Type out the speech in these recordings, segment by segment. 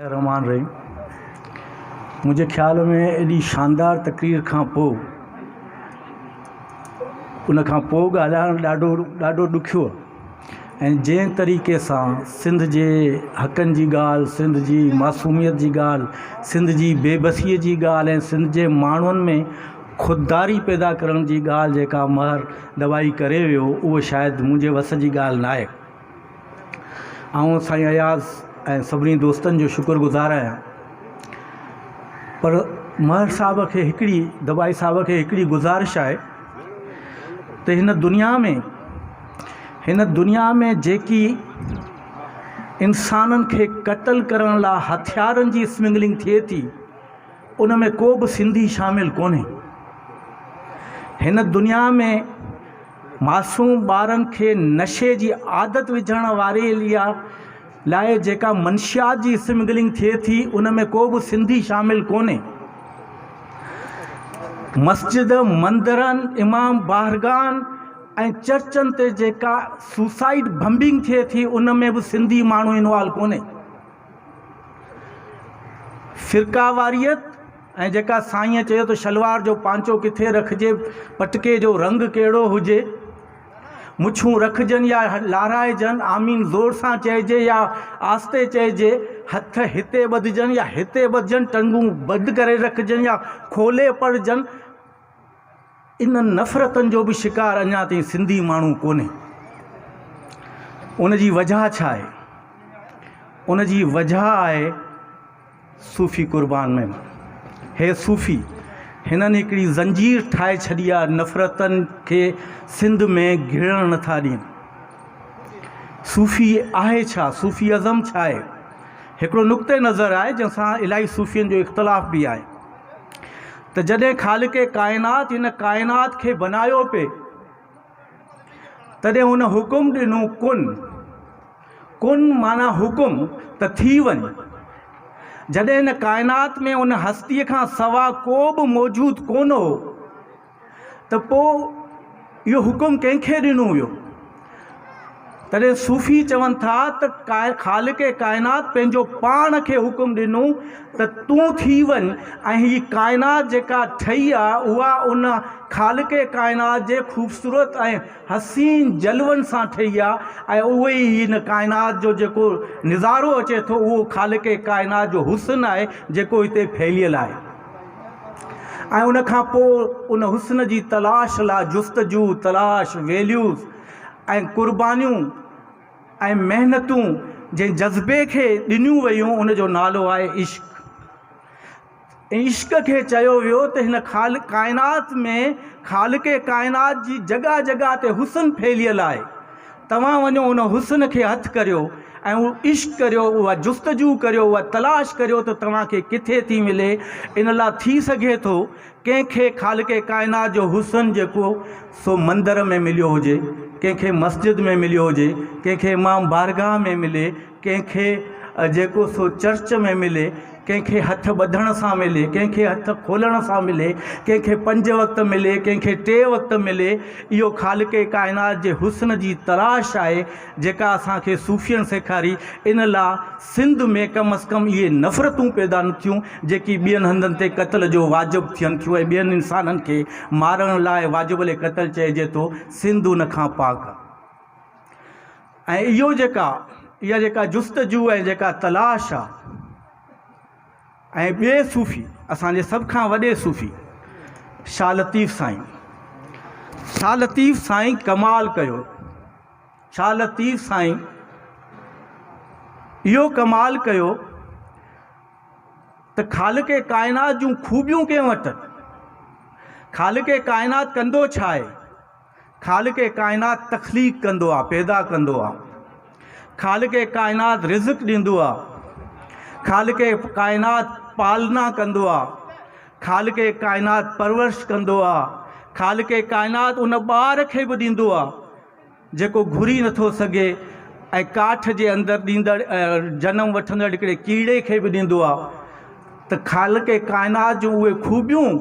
الرحمان الرحيم منهنجي خيال ۾ ايڏي شاندار تقرير کان پوء ان کان پوء ڳالهائڻ ڏاڍو ڏاڍو ڏکيو آهي ۽ جنهن طريقي سان سنڌ جي حقن جي ڳالهه سنڌ جي معصوميت جي ڳالهه سنڌ جي بي بسيء جي ڳالهه ۽ سنڌ جي ماڻهن ۾ خودداري پيدا ڪرڻ جي ڳالهه جيڪا مهر دٻائي ڪري ويو اهو شايد منهنجي وس جي ڳالهه ناهي آئون سائين اياز ۽ سڀني دوستن جو شڪر گذار آهيان پر مهر صاحب کي هڪڙي گبائي صاحب کي هڪڙي گذارش آهي ته هن دنيا ۾ هن دنيا ۾ جيڪي انسانن کي قتل ڪرڻ لاء هٿيارن جي اسمگلنگ ٿئي ٿي ان ۾ ڪو به سنڌي شامل ڪونهي هن دنيا ۾ معصوم ٻارن کي نشي جي عادت وجهڻ واري ليا لاء جيڪا منشيات جي اسمگلنگ ٿئي ٿي ان ۾ ڪو به سنڌي شامل ڪونهي مسجد مندرن امام بارگاهن ۽ چرچن تي جيڪا سوسائيڊ بمبنگ ٿئي ٿي ان ۾ به سنڌي ماڻهو انوالو ڪونهي فرقيواريت ۽ جيڪا سائينء چيو ته شلوار جو پانچو ڪٿي رکجي، پٽڪي جو رنگ ڪهڙو هجي، مڇون رکجن يا لارائجن، آمين زور سان چئجي يا آهستي چئجي، هٿ هتي ٻڌجن يا هتي ٻڌجن، ٽنگون بند ڪري رکجن يا کولي پڙهجن، انهن نفرتن جو به شڪار اڃا تائين سنڌي ماڻهو ڪونهي. ان جي وجهه ڇا آهي؟ ان جي وجهه آهي صوفي قربان ميمڻ. هي صوفي هنن هڪڙي زنجير ٺاهي ڇڏي آهي نفرتن کي سنڌ ۾ گهڙڻ نٿا ڏين. صوفي آهي ڇا؟ صوفي ازم ڇا آهي؟ هڪڙو نقطه نظر آهي جنهن سان الائي صوفين جو اختلاف به آهي. ته جڏهن خالق ڪائنات هن ڪائنات کي بنايو پئي تڏهن هن حڪم ڏنو ڪن ڪن معنيٰ حڪم ته ٿي وڃ جڏهن هن ڪائنات ۾ هن هستيء کان سوا ڪو به موجود ڪونه هو ته پوء اهو حڪم ڪنهن کي ڏنو ويو؟ تڏهن صوفي چون ٿا ته خالق ڪائنات پنهنجو پاڻ کي حڪم ڏنو ته تون ٿي وڃ ۽ هي ڪائنات جيڪا ٺهي آهي اها ان خالق ڪائنات جي خوبصورت ۽ حسين جلون سان ٺهي آهي ۽ اهو ئي هن ڪائنات جو جيڪو نظارو اچي ٿو اهو خالق ڪائنات جو حسن آهي جيڪو هتي ڦهليل آهي. ۽ ان کان پوء ان حسن جي تلاش لاء جستجو، تلاش، ويليوز ۽ قربانيون ۽ محنتون جنهن جذبي کي ڏنيون ويون ان جو نالو آهي عشق. ۽ عشق کي چيو ويو ته هن خالق ڪائنات ۾ خالق ڪائنات جي جڳهه جڳهه تي حسن ڦهليل آهي. توهان وڃو ان حسن کي هٿ ڪريو ۽ عشق ڪريو اها جستجو ڪريو اها تلاش ڪريو ته توهان کي ڪٿي ٿي ملي ان لاء ٿي سگهي ٿو ڪنهن کي خالق ڪائنات جو حسن جيڪو سو مندر ۾ مليو هجي ڪنهن کي مسجد ۾ مليو هجي ڪنهن کي امام بارگاهه ۾ ملي ڪنهن کي جيڪو سو چرچ ۾ ملي، ڪنهن کي هٿ ٻڌڻ سان ملي، ڪنهن کي هٿ کولڻ سان ملي، ڪنهن کي پنج وقت ملي، ڪنهن کي ٽي وقت ملي، اهو خالق ڪائنات جي حسن جي تلاش آهي، جيڪا اسان کي صوفين سيکاري، ان لا سنڌ ۾ ڪم از ڪم اهي نفرتون پيدا نه ٿيون، جيڪي ٻين هنڌن تي قتل جو واجب ٿين ٿيون ۽ ٻين انسانن کي مارڻ لاء واجب القتل چئجي ٿو، سنڌ ان کان پاڪ آهي. ۽ اهو جيڪا اها جيڪا جستجو ۽ جيڪا تلاش آ ۽ ٻي صوفي اسانجي سڀ کان وڏي صوفي شاھ لطيف سائين شاھ لطيف سائين ڪمال ڪيو شاھ لطيف سائين اهو ڪمال ڪيو ته خالق ڪائنات جون خوبيون ڪنهن وٽ خالق ڪائنات ڪندو ڇا آهي خالق ڪائنات تخليق ڪندو آ پيدا ڪندو آ خالق ڪائنات رزق ڏيندو آ خالق ڪائنات پالنا ڪندو آ خالق ڪائنات پرورش ڪندو آ خالق ڪائنات ان ٻار کي به ڏيندو آ جيڪو گهري نٿو سگهي ۽ ڪاٺ جي اندر ڏيندڙ جنم وٺندڙ هڪڙي ڪيڙي کي به ڏيندو آ ته خالق ڪائنات جون اهي خوبيون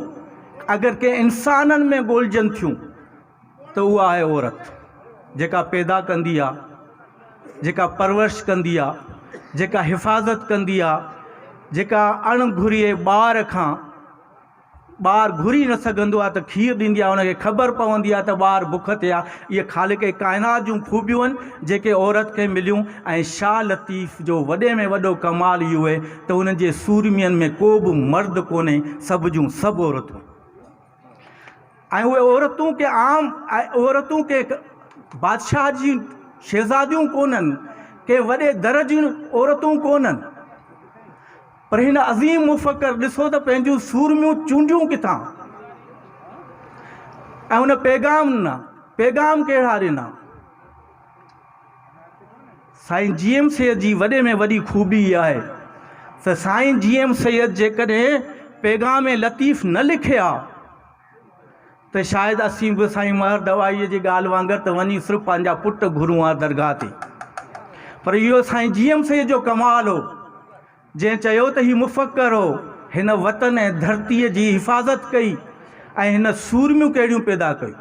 اگر ڪنهن انسانن ۾ ڳولجن ٿيون ته اها آهي عورت جيڪا پيدا ڪندي آهي جيڪا پرورش ڪندي آهي جيڪا حفاظت ڪندي آهي جيڪا اڻ گهرئي ٻار کان ٻار گهري نه سگهندو آهي ته کير ڏيندي آهي انکي خبر پوندي آهي ته ٻار بک تي آهي اهي خالق ڪائنات جون خوبيون آهن جيڪي عورت کي مليون ۽ شاهه لطيف جو وڏي ۾ وڏو ڪمال اهو اهي ته انهن جي سورمين ۾ ڪو به مرد ڪونهي سڀ جون سڀ عورتون ۽ اهي عورتون ڪي عام عورتون ڪي بادشاهه جي شهزاديون ڪونهن ڪي وڏي در جون عورتون ڪونهن پر هن عظيم مفڪر ڏسو ته پنهنجون سورميون چونڊيون ڪٿان ۽ ان پيغام نه پيغام ڪهڙا ڏنا سائين جي ايم سيد جي وڏي ۾ وڏي خوبي اها آهي ته سائين جي ايم سيد جيڪڏهن پيغام لطيف نه لکي ها ته شايد اسين به سائين مهر دوايي جي ڳالهه وانگر ته وڃي صرف پنهنجا پٽ گهرون ها درگاهه تي پر اهو سائين جي ايم سيد جو ڪمال هو جنهن چيو ته هي مفڪر هو هن وطن ۽ ڌرتيء جي حفاظت ڪئي ۽ هن سورميون ڪهڙيون پيدا ڪيون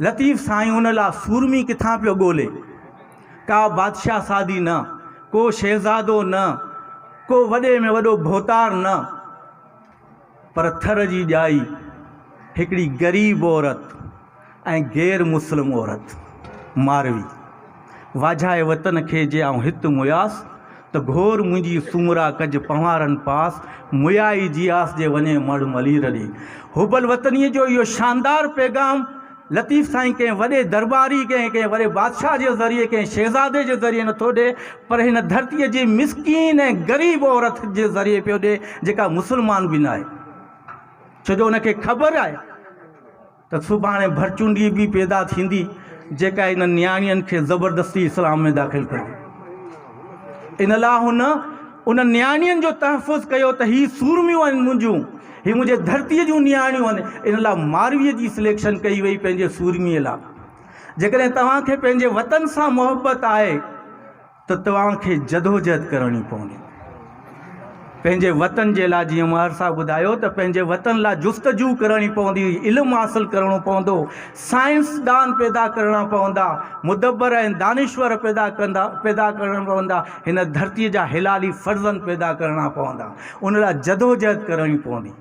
لطيف سائين ان لا سورمي ڪٿان پيو ڳولي. ڪا بادشاهه سادي نه، ڪو شهزادو نه، ڪو وڏي ۾ وڏو ڀوتار نه، پر ٿر جي ڄائي هڪڙي غريب عورت ۽ غير مسلم عورت. ماروي. واجهائي وطن کي جي آئون هت موياس، ته گهور منهنجي سومرا ڪج پنهوارن پاس، مويائي جي آس جي وڃي مڙهه ملير ڏي. حب الوطنيء جو اهو شاندار پيغام لطيف سائين ڪنهن وڏي درٻاري، ڪنهن ڪنهن وڏي بادشاهه جي ذريعي، ڪنهن شهزادي جي ذريعي نٿو ڏئي، پر هن ڌرتيء جي مسڪين ۽ غريب عورت جي ذريعي پيو ڏئي، جيڪا مسلمان به ناهي. ڇو جو ان کي خبر آهي. ته سڀاڻي ڀرچونڊي به پيدا ٿيندي جيڪا انهن نياڻين کي زبردستي اسلام ۾ داخل ڪندي. ان لاء هن انهن نياڻين جو تحفظ ڪيو ته هي سورميون آهن منهنجون، هي منهنجي ڌرتي جون نياڻيون آهن، ان لاء ماروي جي سليڪشن ڪئي وئي پنهنجي سورمي لاء. جيڪڏهن توهان کي پنهنجي وطن سان محبت آهي. ته توهان کي جدوجهد ڪرڻي پوندي پنهنجي وطن جي لاء جيئن ماهر صاحب ٻڌايو ته پنهنجي وطن لاء جستجو ڪرڻي پوندي علم حاصل ڪرڻو پوندو سائنسدان پيدا ڪرڻا پوندا مدبر ۽ دانشور پيدا ڪندا پيدا ڪرڻا پوندا هن ڌرتي جا حلالي فرزند پيدا ڪرڻا پوندا ان لاء جدوجهد ڪرڻي پوندي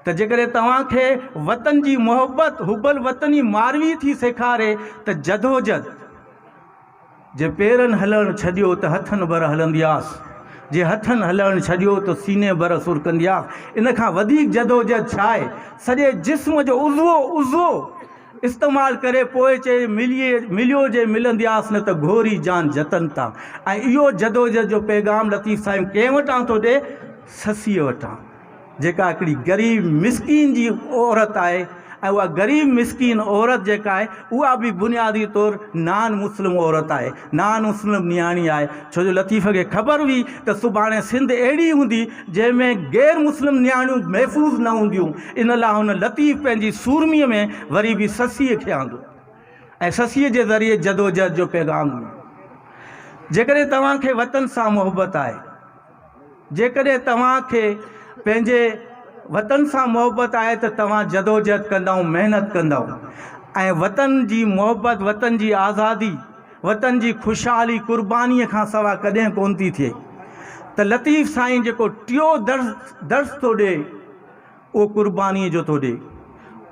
ته جيڪڏهن توهان کي وطن جي محبت حب الوطني ماروي ٿي سيکاري ته جدوجهد جي پيرن هلڻ ڇڏيو ته هٿن بر هلندياس، جي هٿن هلڻ ڇڏيو ته سيني بر سرڪندياس. ان کان وڌيڪ جدوجهد ڇا آهي؟ سڄي جسم جو عضوو عضوو استعمال ڪري پوء چئي مليو جي ملندياس نه ته گهوري جان جتن تان. ۽ اهو جدوجهد جو پيغام لطيف سائين ڪنهن وٽان ٿو ڏئي؟ سسيء وٽان. جيڪا هڪڙي غريب مسڪين جي عورت آهي ۽ اها غريب مسڪين عورت جيڪا آهي اها به بنيادي طور نان مسلم عورت آهي نان مسلم نياڻي آهي ڇو جو لطيف کي خبر هئي ته سڀاڻي سنڌ اهڙي هوندي جنهن ۾ غير مسلم نياڻيون محفوظ نه هونديون ان لاء هن لطيف پنهنجي سورمي ۾ وري به سسيء کي آندو ۽ سسيء جي ذريعي جدوجهد جو پيغام ڏنو جيڪڏهن توهان کي وطن سان محبت آهي جيڪڏهن توهان کي پنهنجي وطن سان محبت آهي ته توهان جدوجهد ڪندائون، محنت ڪندائون ۽ وطن جي محبت، وطن جي آزادي، وطن جي خوشحالي قرباني کان سوا ڪڏهن ڪونه ٿي ٿئي ته لطيف سائين جيڪو ٽيون درس ٿو ڏي اهو قربانيء جو ٿو ڏئي،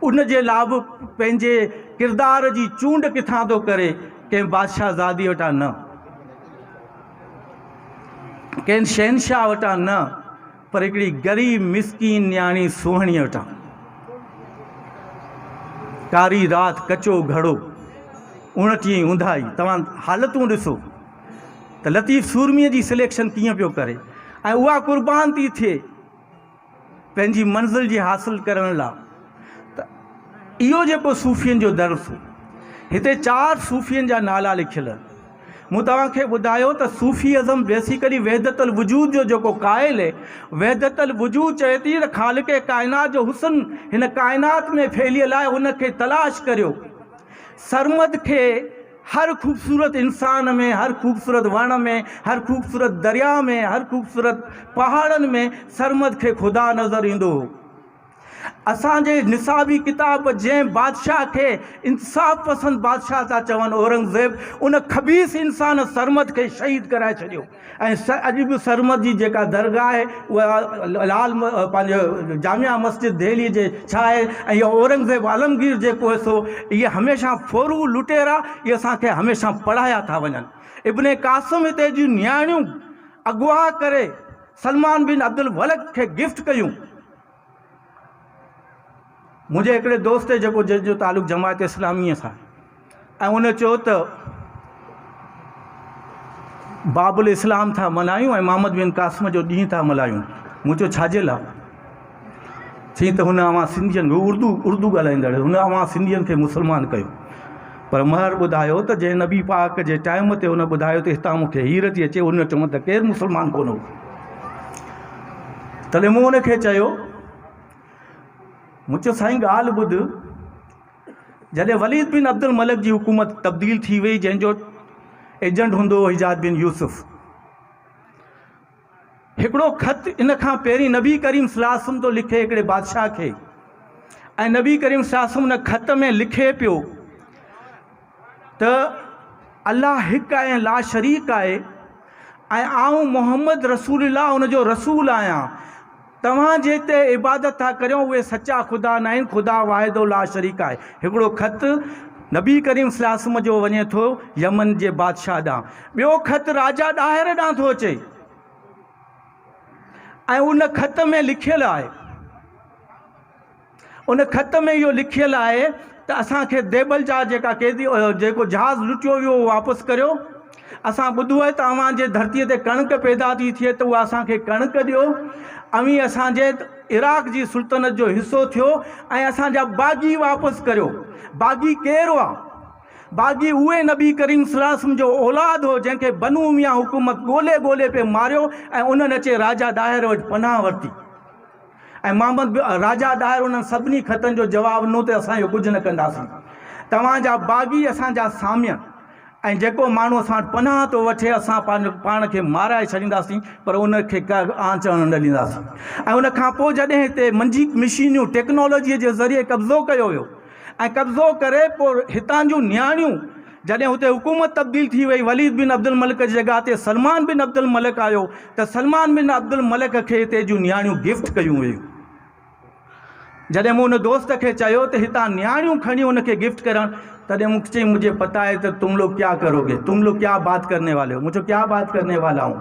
ان جي لاء به پنهنجي ڪردار جي چونڊ ڪٿان ٿو ڪري، ڪنهن بادشاهه زادي وٽان نه، ڪنهن شهنشاهه وٽان نه، پر هڪڙي غريب مسڪين نياڻي سونهڻيء وٽان. ڪاري رات، ڪچو گهڙو، اوڻٽيهين اونداهي، توهان حالتون ڏسو ته لطيف سورميء جي سليڪشن ڪيئن پيو ڪري ۽ اها قربان ٿي ٿئي. پنهنجي منزل جي حاصل ڪرڻ لا ته اهو جيڪو صوفين جو درس هو هتي چار صوفين جا نالا لکيل آهن مون توهان کي ٻڌايو ته صوفي ازم بيسيڪلي وحدت الوجود جو جيڪو قائل هي وحدت الوجود چئي ٿي ته خالق ڪائنات جو حسن هن ڪائنات ۾ ڦهليل آهي ان کي تلاش ڪريو سرمد کي هر خوبصورت انسان ۾، هر خوبصورت وڻ ۾، هر خوبصورت درياء ۾، هر خوبصورت پهاڙن ۾ سرمد کي خدا نظر ايندو هو. اسان جي نصابي ڪتاب جنهن بادشاهه کي انصاف پسند بادشاهه ٿا چون اورنگزيب ان خبيث انسان سرمد کي شهيد ڪرائي ڇڏيو. ۽ اڄ به سرمد جي جيڪا درگاهه آهي اها لال پنهنجي جامع مسجد دهلي جي ڇا آهي ۽ اهو اورنگزيب عالمگير جيڪو هي سو اهي هميشه ڦورو لٽيرا اهي اسانکي هميشه پڙهايا ٿا وڃن ابن قاسم هتي جون نياڻيون اغوا ڪري سلمان بن عبدالولڪ کي گفٽ ڪيون. منهنجي هڪڙي دوست جيڪو جنهن جو تعلق جماعت اسلاميء سان آهي ۽ ان چيو ته باب الاسلام ٿا ملهايون ۽ محمد بن قاسم جو ڏينهن ٿا ملهايون مون چيو ڇا جي لاء چيائين ته هن اوهان سنڌين هو اردو اردو ڳالهائيندڙ هن اوهان سنڌين کي مسلمان ڪيو پر مهر ٻڌايو ته جنهن نبي پاڪ جي ٽائيم تي هن ٻڌايو ته هتان مون کي هير ٿي اچي هن چون ته ڪير مسلمان ڪونه هو تڏهن مون هن کي چيو مون چيو سائين ڳالهه ٻڌ، جڏهن وليد بن عبدالملڪ جي حڪومت تبديل ٿي وئي جنهن جو ايجنٽ هوندو هو حجاج بن يوسف، هڪڙو خط ان کان پهرين نبي ڪريم صلي الله عليه وسلم ٿو لکي هڪڙي بادشاهه کي ۽ نبي ڪريم صلي الله عليه وسلم ان خط ۾ لکي پيو ته الله هڪ آهي ۽ لاشريڪ آهي ۽ آئون محمد رسول الله ان جو رسول آهيان. توهان جنهن تي عبادت ٿا ڪريو اهي سچا خدا ناهن، خدا واحد و لاشريڪ آهي. هڪڙو خط نبي ڪريم صلي الله عليه وسلم جو وڃي ٿو يمن جي بادشاهه ڏانهن. ٻيو خط راجا ڏاهر ڏانهن ٿو اچي ۽ ان خط ۾ لکيل آهي. ان خط ۾ اهو لکيل آهي ته اسان کي ديبل جا جيڪا قيدي جيڪو جهاز لٽيو ويو اهو واپس ڪريو. اسان ٻڌو آهي ته اوهان جي ڌرتيء تي ڪڻڪ پيدا ٿي ٿئي ته اها اسان کي ڪڻڪ ڏيو. اوهين اسان جي عراق جي سلطنت جو حصو ٿيو ۽ اسان جا باغي واپس ڪريو. باغي ڪير هئا؟ باغي اهي نبي ڪريم صلي الله عليه وسلم جو اولاد هو جنهن کي بنو اميه حڪومت ڳولي ڳولي پئي ماريو ۽ انهن اچي راجا ڏاهر وٽ پناهه ورتي. ۽ محمد به راجا ڏاهر انهن سڀني خطن جو جواب ڏنو ته اسان اهو ڪجهه نه ڪنداسين. توهان جا باغي اسان جا سامي آهن ۽ جيڪو ماڻهو اسان وٽ پناهه ٿو وٺي اسان پاڻ کي مارائي ڇڏينداسين پر ان کي ڪا به آنچ اڻڻ نه ڏينداسين ۽ ان کان پوء جڏهن هتي منجي مشينيون، ٽيڪنالاجيء، جي ذريعي قبضو ڪيو ويو، ۽ قبضو ڪري پوء هتان جون نياڻيون جڏهن هتي حڪومت تبديل ٿي وئي وليد بن عبدالملڪ جي جڳهه تي سلمان بن عبدالملڪ آيو ته سلمان بن عبدالملڪ کي هتي جون نياڻيون گفٽ ڪيون ويون جڏهن مون ان دوست کي چيو ته هتان نياڻيون کڻي ان کي گفٽ ڪرڻ تڏهن مون کي چيائين مجھے پتا هي ته تم لوگ ڪيا ڪرو گي تم لوگ ڪيا بات ڪرني والي هو مون چيو ڪيا بات ڪرني والا هون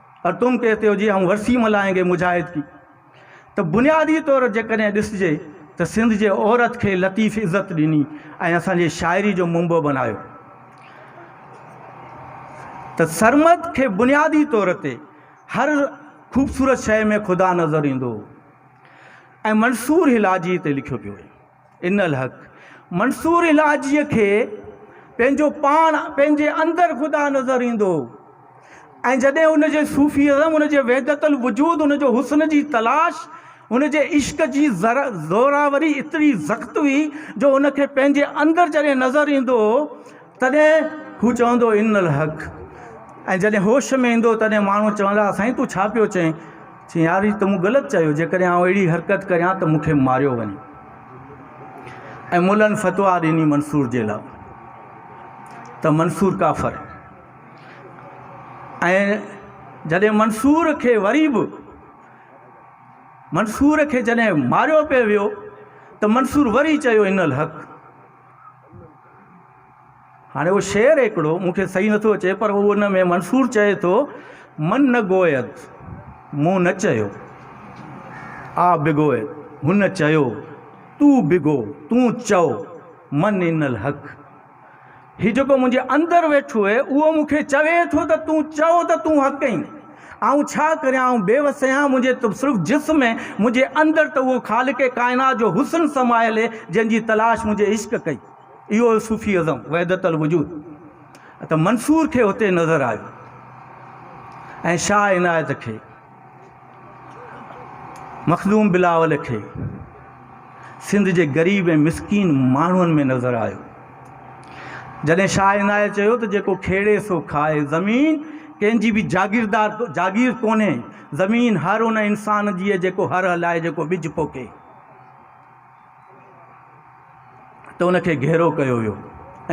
پر تم کيس ٿيو جي آئون ورسي ملائين گي مجاهد ڪي ته بنيادي طور جيڪڏهن ڏسجي ته سنڌ جي عورت کي لطيف عزت ڏني ۽ اسان جي شاعري جو منبع بنايو ته سرمد کي بنيادي طور تي هر خوبصورت شيء ۾ خدا نظر ايندو هو ۽ منصور هلالجي تي لکيو پيو ويو ان الحق منصور الاجيء کي پنهنجو پاڻ پنهنجي اندر خدا نظر ايندو هو ۽ جڏهن ان جي صوفي ازم ان جي وحدت الوجود ان جو حسن جي تلاش ان جي عشق جي زوراوري ايتري زخت هئي جو ان کي پنهنجي اندر جڏهن نظر ايندو هو تڏهن هو چوندو ان الحق ۽ جڏهن هوش ۾ ايندو تڏهن ماڻهو چوندا سائين تون ڇا پيو چئين؟ چئين يار هي ته مون غلط چيو جيڪڏهن آئون اهڙي حرڪت ڪريان ته مون کي ماريو وڃي ۽ ملن فتويٰ ڏني منصور جي لا ته منصور ڪافر ۽ جڏهن منصور کي وري به منصور کي جڏهن ماريو پئي ويو ته منصور وري چيو ان الحق هاڻي اهو شعر هڪڙو مون کي صحيح نٿو اچي پر هو ان ۾ منصور چئي ٿو من نه گويد مون نه چيو آ بگويد هن چيو تو بگو تون چئو من ان الحق هي جيڪو منهنجي اندر ويٺو اهي اهو مون کي چوي ٿو ته تون چئو ته تون حق ڪئين آئون ڇا ڪريان آئون بي وس آهيان منهنجي ته صرف جسم ۽ منهنجي اندر ته اهو خالق ڪائنات جو حسن سمايل هي جنهن جي تلاش منهنجي عشق ڪئي اهو هو صوفي اعظم وحدت الوجود ته منصور کي هتي نظر آيو ۽ شاهه عنايت کي مخدوم بلاول کي سنڌ جي غريب ۽ مسڪين ماڻهن ۾ نظر آيو جڏهن شاهه عنايت چيو ته جيڪو کيڙي سو کائي، زمين ڪنهن جي به جاگيردار جاگير ڪونهي، زمين هر ان انسان جي جيڪو هر هلائي جيڪو ٻج پوکي ته ان کي گهرو ڪيو ويو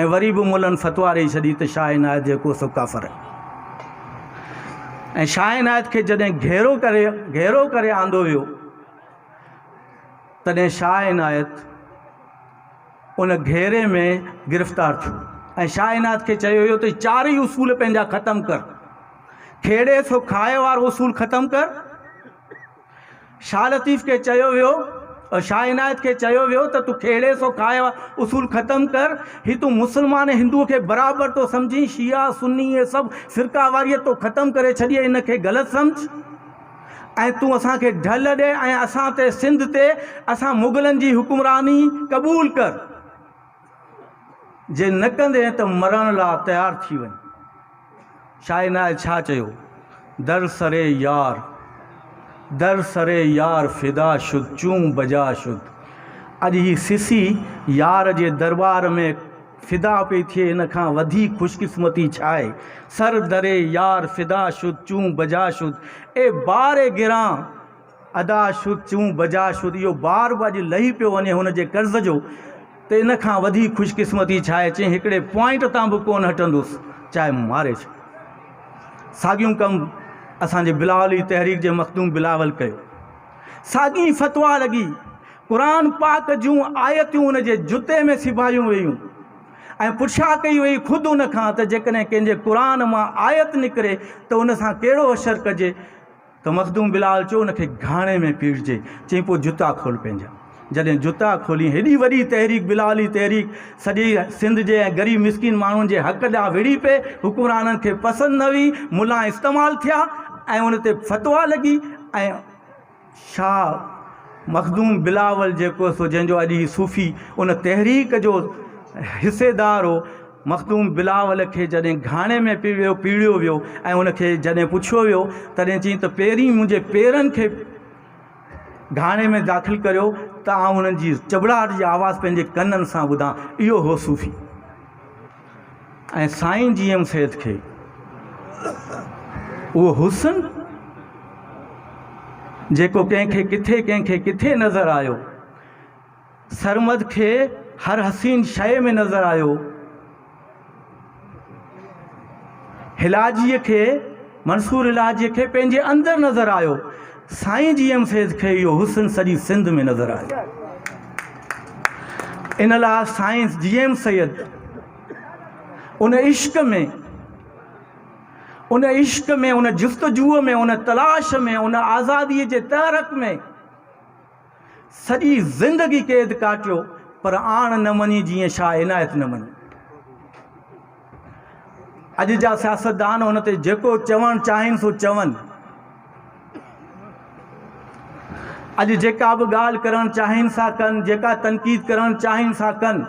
۽ وري به ملن فتوا ڏئي ڇڏي ته شاهه عنايت جيڪو سو ڪافر آهي ۽ شاهه عنايت کي جڏهن گهيرو ڪري گهيرو ڪري آندو ويو تڏهن شاهه عنايت ان گهيري ۾ گرفتار ٿيو ۽ شاهه عنايت کي چيو ويو ته چارئي اصول پنهنجا ختم ڪر. کيڙي سو کائي وارو اصول ختم ڪر. شاهه لطيف کي چيو ويو ۽ شاهه عنايت کي چيو ويو ته تون کيڙي سو کائي وارو اصول ختم ڪر. هي تون مسلمان ۽ هندوء کي برابر ٿو سمجهين. شيعا، سني اهي سڀ فرقه واريت تو ختم ڪري ڇڏي آهي، ان کي غلط سمجهه. ۽ تون اسان کي ڍل ڏي ۽ اسان تي، سنڌ تي، اسان مغلن جي حڪمراني قبول ڪر. جي نه ڪندين ته مرڻ لا تيار ٿي وڃ. شاهه عنايت شاهه چيو، در سر يار، در سر يار فدا شد چون بجا شد. اڄ هي سسي يار جي درٻار ۾ فدا پئي ٿئي ان کان وڌيڪ خوش قسمتي ڇاهي سر در يار فدا شد چون بجا شد اي بار گران ادا شد چون بجا شد اهو بار به اڄ لهي پيو وڃي هن جي قرض جو ته ان کان وڌيڪ خوش قسمتي ڇاهي چئين هڪڙي پوائنٽ تان به ڪون هٽندوس چاهي ماري ڇو ساڳيون ڪم اسان جي بلاولي تحريڪ جي مخدوم بلاول ڪيو ساڳي فتوا لڳي قرآن پاڪ جون آيتون ان جي جتي ۾ سبايون ويون ۽ پڇا ڪئي وئي خود ان کان ته جيڪڏهن ڪنهن جي قرآن مان آيت نڪري ته ان سان ڪهڙو حشر ڪجي ته مخدوم بلال چيو ان کي گهاڻي ۾ پيڙجي چئي پوء جتا کول پنهنجا جڏهن جتا کولين هيڏي وڏي تحريڪ بلالي تحريڪ سڄي سنڌ جي ۽ غريب مسڪين ماڻهن جي حق ڏانهن وڙهي پئي حڪمرانن کي پسند نه هئي ملان استعمال ٿيا ۽ ان تي فتويٰ لڳي ۽ شاهه مخدوم بلاول جيڪو سو جنهن جو اڄ هي صوفي ان تحريڪ جو حصيدار هو مخدوم بلاول کي جڏهن گهاڻي ۾ پي ويو پيڙيو ويو ۽ ان کي جڏهن پڇيو ويو تڏهن چيائين ته پهرين منهنجي پيرن کي گهاڻي ۾ داخل ڪريو ته آئون انهن جي چٻڙاهٽ جي آواز پنهنجي ڪنن سان ٻڌان اهو هو صوفي ۽ سائين جي ايم سيد کي اهو حسن جيڪو ڪنهن کي ڪٿي ڪنهن کي ڪٿي نظر آيو سرمد کي هر حسين شيء ۾ نظر آيو هلاجيء کي منصور هلاجيء کي پنهنجي اندر نظر آيو سائين جي ايم فيض کي اهو حسن سڄي سنڌ ۾ نظر آيو ان لاء سائين جي ايم سيد ان عشق ۾ ان عشق ۾ ان جستجوء ۾ ان تلاش ۾ ان آزادي جي تحرڪ ۾ سڄي زندگي قيد ڪاٽيو پر آڻ نه مڃي جيئن شاهه عنايت نه مڃي. اڄ جا سياستدان هن تي جيڪو چوڻ چاهين سو چون. اڄ جيڪا به ڳالهه ڪرڻ چاهين سا ڪن، جيڪا تنقيد ڪرڻ چاهين سا ڪن.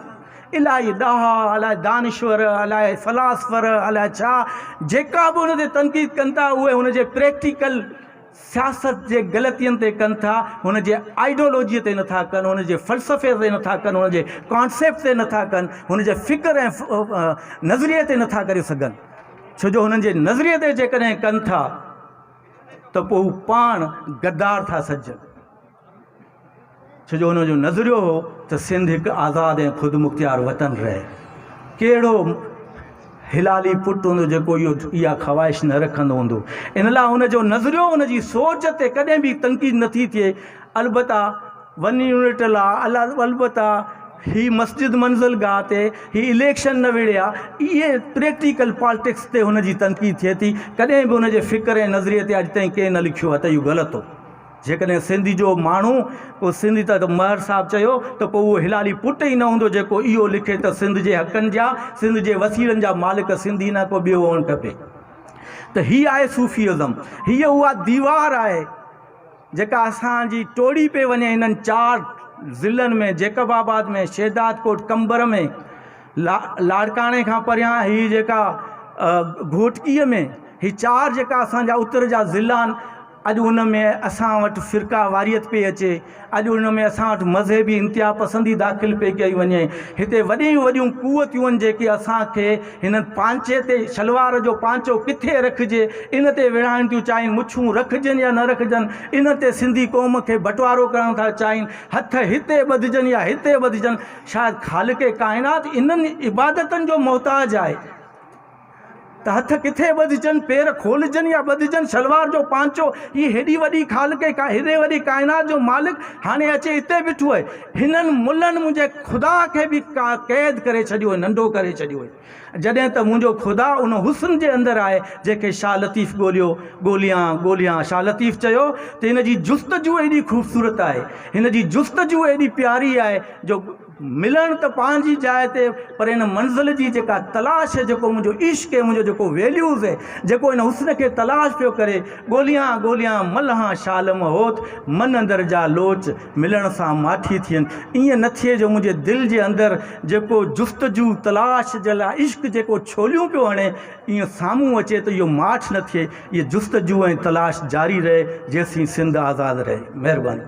الائي ڏاها، الائي دانشور، الائي فلاسفر، الائي ڇا جيڪا به هن تي تنقيد ڪن ٿا اهي هن جي پريڪٽيڪل سياست جي غلطين تي ڪن ٿا، هن جي آئيڊيولوجيء تي نٿا ڪن، هن جي فلسفي تي نٿا ڪن، هن جي ڪانسيپٽ تي نٿا ڪن، هن جي فڪر ۽ نظريي تي نٿا ڪري سگهن. ڇو جو هنن جي نظريي تي جيڪڏهن ڪن ٿا ته پوء هو پاڻ غدار ٿا سڏجن. ڇو جو انهن جو نظريو هو ته سنڌ هڪ آزاد ۽ خودمختيار وطن رهي. ڪهڙو هلالي پٽ هوندو جيڪو اها خواهش نه رکندو هوندو. ان لاء هن جو نظريو، هن جي سوچ تي ڪڏهن به تنقيد نه ٿي ٿئي. البته ون يونٽ لا، البته هي مسجد منزل گاهه تي، هي اليڪشن نه وڙهيا، اهي پريڪٽيڪل پالٽڪس تي هن جي تنقيد ٿئي ٿي. ڪڏهن به هن جي فڪر ۽ نظريي تي اڄ تائين ڪنهن نه لکيو آهي ته اهو غلط هو. جيڪڏهن سنڌ جو ماڻهو ڪو سنڌ ته مهر صاحب چيو ته پوء اهو هلالي پٽ ئي نه هوندو جيڪو اهو لکي ته سنڌ جي حقن جا سنڌ جي وسيلن جا مالڪ سنڌ ئي نه ڪو ٻيو هئڻ کپي ته هي آهي صوفي ازم هيء اها ديوار آهي جيڪا اسان جي ٽوڙي پئي وڃي هنن چار ضلعن ۾ جيڪب آباد ۾ شهداد ڪوٽ قمبر ۾ لا لاڙڪاڻي کان پريان هي جيڪا گهوٽڪيء ۾ هي چار جيڪا اسان جا اتر جا ضلعا آهن اڄ ان ۾ اسان وٽ فرقه واريت پئي اچي، اڄ ان ۾ اسان وٽ مذهبي انتها پسندي داخل پئي ڪئي وڃي. هتي وڏيون وڏيون قوتون آهن جيڪي اسان کي هنن پانچي تي شلوار جو پانچو ڪٿي رکجي ان تي وڙهائڻ ٿيون چاهين، مڇون رکجن يا نه رکجن ان تي سنڌي قوم کي بٽوارو ڪرڻ ٿا چاهين، هٿ هتي ٻڌجن يا هتي ٻڌجن شايد خالق ڪائنات انهن عبادتن جو محتاج آهي. ته هٿ ڪٿي ٻڌجن، پير کولجن يا ٻڌجن، شلوار جو پانچو، هي هيڏي وڏي خالق ۽ هيڏي وڏي ڪائنات جو مالڪ هاڻي اچي هتي بيٺو آهي. هنن ملن منهنجي خدا کي به قيد ڪري ڇڏيو آهي، ننڍو ڪري ڇڏيو آهي. جڏهن ته منهنجو خدا ان حسن جي اندر آهي، جنهن کي شاهه لطيف ڳوليو، ڳوليان، ڳوليان. شاهه لطيف چيو ته هن جي جستجو ايڏي خوبصورت آهي، هن جي جستجو ايڏي پياري آهي جو. ملڻ ته پنهنجي جاء تي پر ان منزل جي جيڪا تلاش هي جيڪو منهنجو عشق هي منهنجو جيڪو ويليوز هي جيڪو ان حسن کي تلاش پيو ڪري ڳوليان ڳوليان ملهان شالم هوت من اندر جا لوچ ملڻ سان ماٺي ٿين ائين نه ٿئي جو منهنجي دل جي اندر جيڪو جستجو تلاش جي لاء عشق جيڪو ڇوليون پيو هڻي ائين سامهون اچي ته اهو ماٺ نه ٿئي اهي جستجو ۽ تلاش جاري رهي جيسين سنڌ آزاد رهي مهرباني.